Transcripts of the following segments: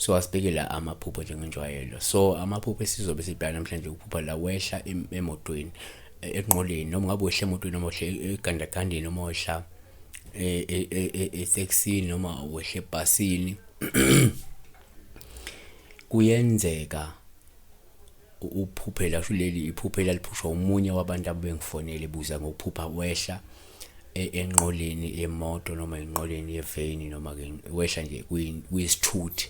so asibheke la amaphupho njengenjwayelo so amaphupho esizobe sibheka namhlanje ukuphupha la wehla emotweni e, enqoleni noma ngabe wehla emotweni noma wehla egandagandeni noma wehla etaxini e, e, noma wehla ebhasini kuyenzeka Uphuphela sho leli iphuphela liphushwa umunye wabantu abebengifonele buza ngokuphupha wehla e, enqoleni yemoto noma enqoleni yeveni noma ke wehla nje kuyisithuthi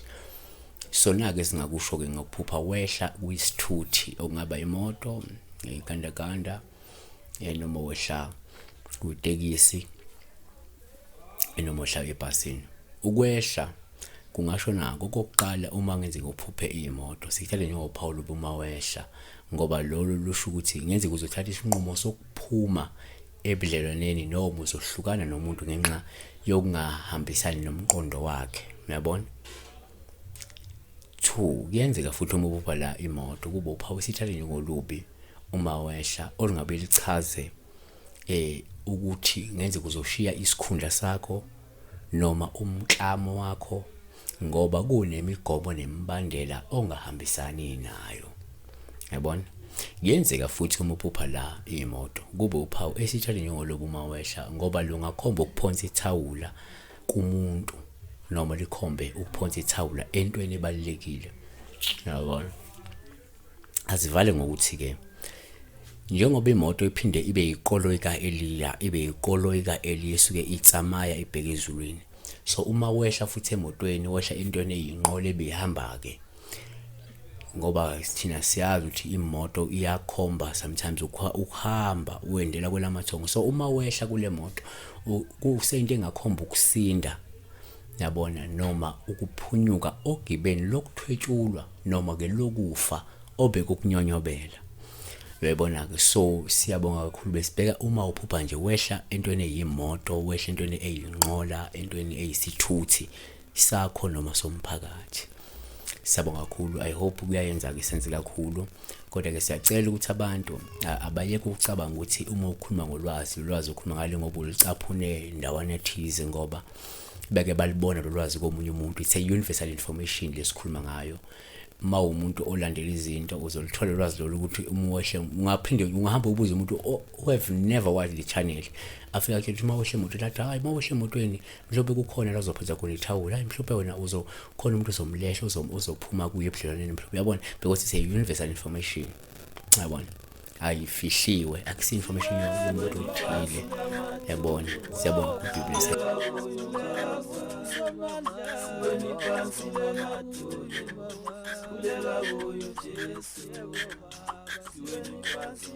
sona ke singakusho ke ngokuphupha wehla kuyisithuthi okungaba imoto ngegandaganda eh, noma wehla kutekisi noma wehla ebhasini ukwehla Kungasho nako okokuqala uma ngenzeka uphuphe iyimoto sikuthathe njengophawu loba uma wehla ngoba lolo lusho ukuthi ngenzeka uzothatha isinqumo sokuphuma ebudlelwaneni noma uzohlukana nomuntu ngenxa yokungahambisani nomqondo wakhe uyabona two kuyenzeka futhi uma ubupha la imoto kube uphawu sithathe njengolubi uma wehla olungabe lichaze eh ukuthi ngenzeka uzoshiya isikhundla sakho noma umklamo wakho ngoba kunemigomo nemibandela ongahambisani nayo. Yabona? Kuyenzeka futhi uma uphupha la imoto kube uphawu esitshale njengolobu uma wehla ngoba lungakhomba ukuphonsa ithawula kumuntu noma likhombe ukuphonsa ithawula entweni ebalulekile. Yabona? azivale ngokuthi ke njengoba imoto iphinde ibe yiqoloi ka-eliya ibe yiqoloi ka-eliya esuke itsamaya ibheke ezulwini so uma wehla futhi emotweni wehla entweni eyinqola ebihamba-ke ngoba thina siyazi ukuthi imoto iyakhomba sometimes ukuhamba uwendela kwelamathongo so uma wehla kule moto kuseyinto engakhomba ukusinda yabona noma ukuphunyuka ogibeni lokuthwetshulwa noma ke lokufa obekukunyonyobela uyayibona ke so siyabonga kakhulu besibheka uma uphupha nje wehla entweni eyimoto wehla entweni eyinqola entweni eyisithuthi sakho noma somphakathi siyabonga kakhulu i hope kuyayenza ke senze kakhulu kodwa ke siyacela ukuthi abantu abayeke ukucabanga ukuthi uma ukhuluma ngolwazi ulwazi ukhuluma ngale ngoba ulicaphune ndawana ethize ngoba beke balibona lolwazi komunye umuntu it's a universal information lesikhuluma ngayo uma umuntu olandela izinto uzolithola ulwazi lolu ukuthi umuwehle ungaphinde ungahamba ubuze umuntu who have never watched the channel afika kuthi uma wehle moto lathi hayi uma wehle emotweni mhlawumbe kukhona la uzophuza khona ithawula hayi mhlawumbe wena uzokhona umuntu uzomlehla uzophuma kuye ebudlelwaneni mhlawumbe uyabona because it's a universal information yabona ayifihliwe akusi information yomuntu othile yabona siyabonga kubhizinisi Thank you.